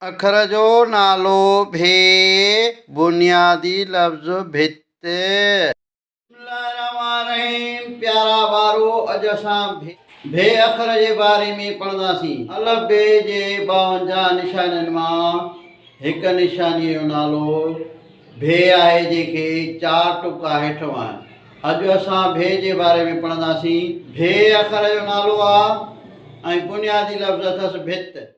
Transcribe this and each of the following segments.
اکر جو نالو ڀي، بنيادي لفظ ڀت. بسم الله الرحمٰن الرحيم پيارا ٻارو اڄ اسان ڀي ڀي اکر جي باري ۾ پڙهنداسين. الف بي جي ٻاونجاهه نشانين مان هڪ نشانيء جو نالو ڀي آهي جنهن کي چار ٽپڪا هيٺ وهن. اڄ اسان ڀي جي باري ۾ پڙهنداسين. ڀي اکر جو نالو آ ۽ بنيادي لفظ اٿس ڀت.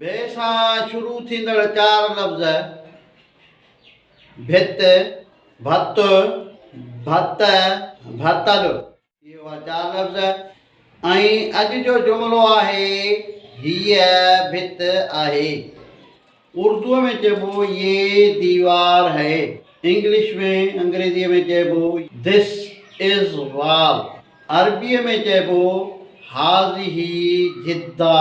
بي سان شروع ٿيندڙ چار لفظ، ڀت، ڀت، ڀت، ڀتل. اهي هئا چار لفظ ۽ اڄ جو جملو آهي، هيء ڀت آهي. اردوء ۾ چئبو يي ديوار هئ. انگلش ۾، انگريزيء ۾ چئبو This is wall. عربيء ۾ چئبو هٰذه جدا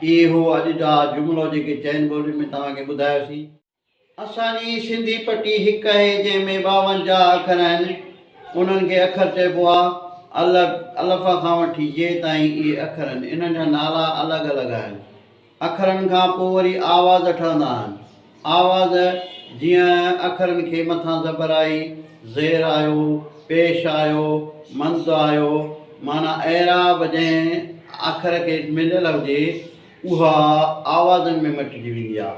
اهي هو اڄ جا جملو جيڪي چئن ٻولين ۾ توهان کي ٻڌايوسين. اسان جي سنڌي پٽي هڪ اهي جنهن ۾ ٻاونجاهه اکر آهن انهن کي اکر چئبو آهي الڳ الف کان وٺي ي تائين اهي اکر آهن انهن جا نالا الڳ الڳ آهن اکرن کان پوء وري آواز ٺهندا آهن. آواز، جيئن اکرن کي مٿان زبر آئي، زير آيو، پيش آيو، مند آيو، معنيٰ اعراب جنهن اکر کي مليل هجي، اها آوازن ۾ مٽجي ويندي آهي.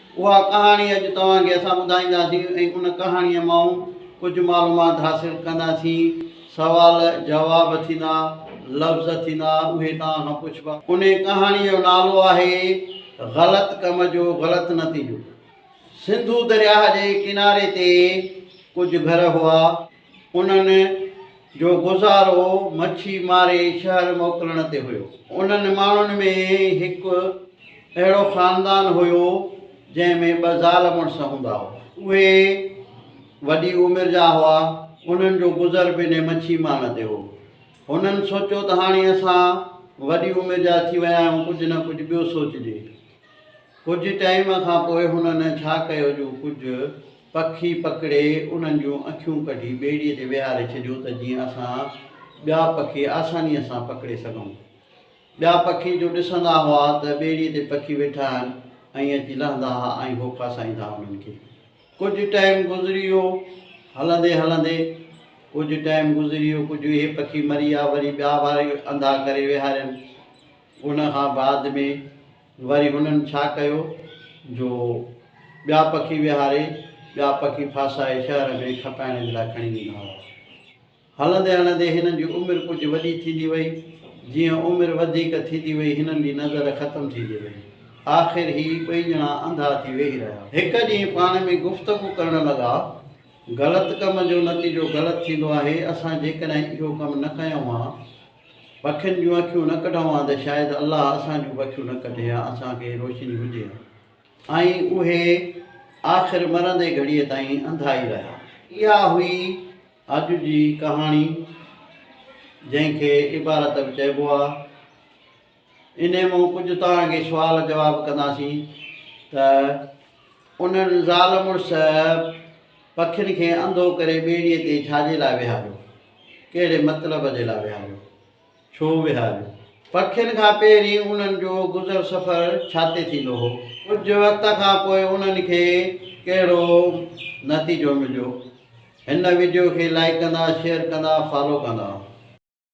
اها ڪهاڻي اڄ توهان کي اسان ٻڌائينداسين ۽ ان ڪهاڻيء مان ڪجهه معلومات حاصل ڪنداسين. سوال جواب ٿيندا، لفظ ٿيندا، اهي توهان کان پڇبا. ان ڪهاڻيء جو نالو آهي، غلط ڪم جو غلط نتيجو. سنڌو درياهه جي ڪناري تي ڪجهه گهر هئا. انهن جو گذارو مڇي ماري شهر موڪلڻ تي هيو. انهن ماڻهن ۾ هڪ اهڙو خاندان هيو جنهن ۾ ٻه زال مڙس هوندا هئا. اهي وڏي عمر جا هئا. انهن جو گذر به انهي مڇي مان تي هو. هنن سوچيو ته هاڻي اسان وڏي عمر جا ٿي ويا آهيون ڪجهه نه ڪجهه ٻيو سوچجي. ڪجهه ٽائيم کان پوء هنن ڇا ڪيو جو ڪجهه. پکي پڪڙي انهن جون اکيون ڪڍي ٻيڙيء تي ويهاري ڇڏيو ته جيئن اسان ٻيا پکي آسانيء سان پڪڙي سگهون. ٻيا پکي جو ڏسندا هئا ته ٻيڙيء تي پکي ويٺا آهن ائين اچي لهندا ها ۽ هو ڦاسائيندا ها انهن کي. ڪجهه ٽائيم گذري ويو هلندي هلندي ڪجهه ٽائيم گذري ويو ڪجهه اهي پکي مري ويا وري ٻيا واري انڌا ڪري ويهارين ان کان بعد ۾ وري هنن ڇا ڪيو جو ٻيا پکي ويهاري، ٻيا پکي ڦاسائي شهر ۾ کپائڻ جي لاء کڻي ويندا هئا. هلندي هلندي هنن جي عمر ڪجهه وڏي ٿيندي وئي. جيئن عمر وڌيڪ ٿيندي وئي هنن جي نظر ختم ٿيندي وئي. آخر هي ٻئي ڄڻا انڌا ٿي ويهي رهيا. هڪ ڏينهن پاڻ ۾ گفتگو ڪرڻ لڳا، غلط ڪم جو نتيجو غلط ٿيندو آهي، اسان جيڪڏهن اهو ڪم نه ڪيون ها، پکين جون اکيون نه ڪڍون ها ته شايد الله اسان جون به اکيون نه ڪڍي ها اسان کي روشني هجي ها ۽ اهي آخر مرندي گهڙيء تائين انڌا ئي رهيا. اها هئي اڄ جي ڪهاڻي جنهن کي عبارت به چئبو آهي. انهيء مون ڪجهه توهان کي سوال جواب ڪنداسين ته انهن زال مڙس پکين کي انڌو ڪري ٻيڙيء تي ڇاجي لاء ويهاريو؟ ڪهڙي مطلب جي لاء ويهاريو؟ ڇو ويهاريو؟ پکين کان پهرين انهن جو گذر سفر ڇاتي ٿيندو هو؟ ڪجهه وقت کان پوء انهن کي ڪهڙو نتيجو مليو؟ هن وڊيو کي لائيڪ ڪندا، شيئر ڪندا، فالو ڪندا.